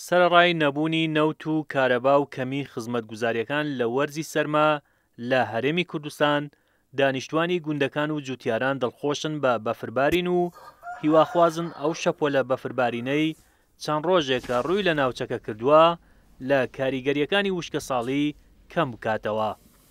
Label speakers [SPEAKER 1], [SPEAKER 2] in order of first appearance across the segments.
[SPEAKER 1] سەرەڕای نەبوونی نەوت و کارەبا و کەمی خزمەتگوزارییەکان لە وەرزی سەرما لە هەرێمی کوردستان، دانیشتوانی گوندەکان و جوتیاران دڵخۆشن بە بەفربارین و هیواخوازن ئەو شەپۆلە بەفربارینەی چەند ڕۆژێکە ڕووی لە ناوچەکە کردووە لە کاریگەرییەکانی وشکەساڵی کەم بکاتەوە.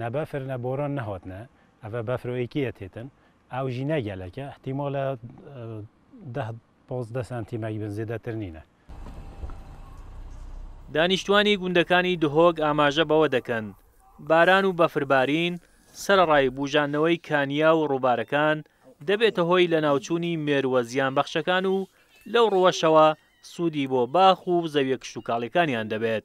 [SPEAKER 2] نە بەفر نە بۆران نەهاتنە ئەڤە بەفر و ئێکیە تێتن ئاو ژی نەگەلەکە ئەحتیمالە دە پازدە سانتیمەک بن زێدەتر نینە.
[SPEAKER 1] دانیشتوانی گوندەکانی دهۆک ئاماژە بەوە دەکەن، باران و بەفربارین سەرەڕای بوژاندنەوەی کانیا و ڕووبارەکان، دەبێتە هۆی لەناوچوونی مێرووە زیانبەخشەکان و لەو ڕووەشەوە سوودی بۆ باخ و زەویە کشتوکاڵیەکانیان دەبێت.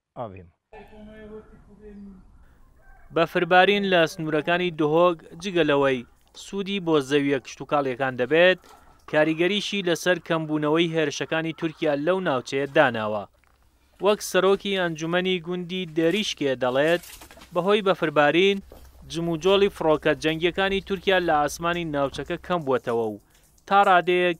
[SPEAKER 3] ئاڤین.
[SPEAKER 1] بەفربارین لە سنوورەکانی دهۆک جگە لەوەی سوودی بۆ زەوییە کشتوکاڵییەکان دەبێت، کاریگەریشی لەسەر کەمبوونەوەی هێرشەکانی تورکیا لەو ناوچەیە داناوە. وەک سەرۆکی ئەنجومەنی گوندی دێریشکێ دەڵێت، بەهۆی بەفربارین، جموجۆڵی فڕۆکە جەنگییەکانی تورکیا لە ئاسمانی ناوچەکە کەمبووەتەوە و تا ڕادەیەک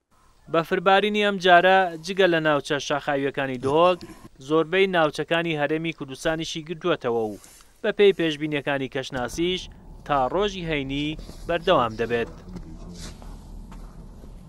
[SPEAKER 4] بەفربارینی
[SPEAKER 1] ئەمجارە جگە لە ناوچە شاخاوییەکانی دهۆک، زۆربەی ناوچەکانی هەرێمی کوردستانیشی گرتووەتەوە و بەپێی پێشبینییەکانی کەشناسیش تا ڕۆژی هەینی بەردەوام دەبێت.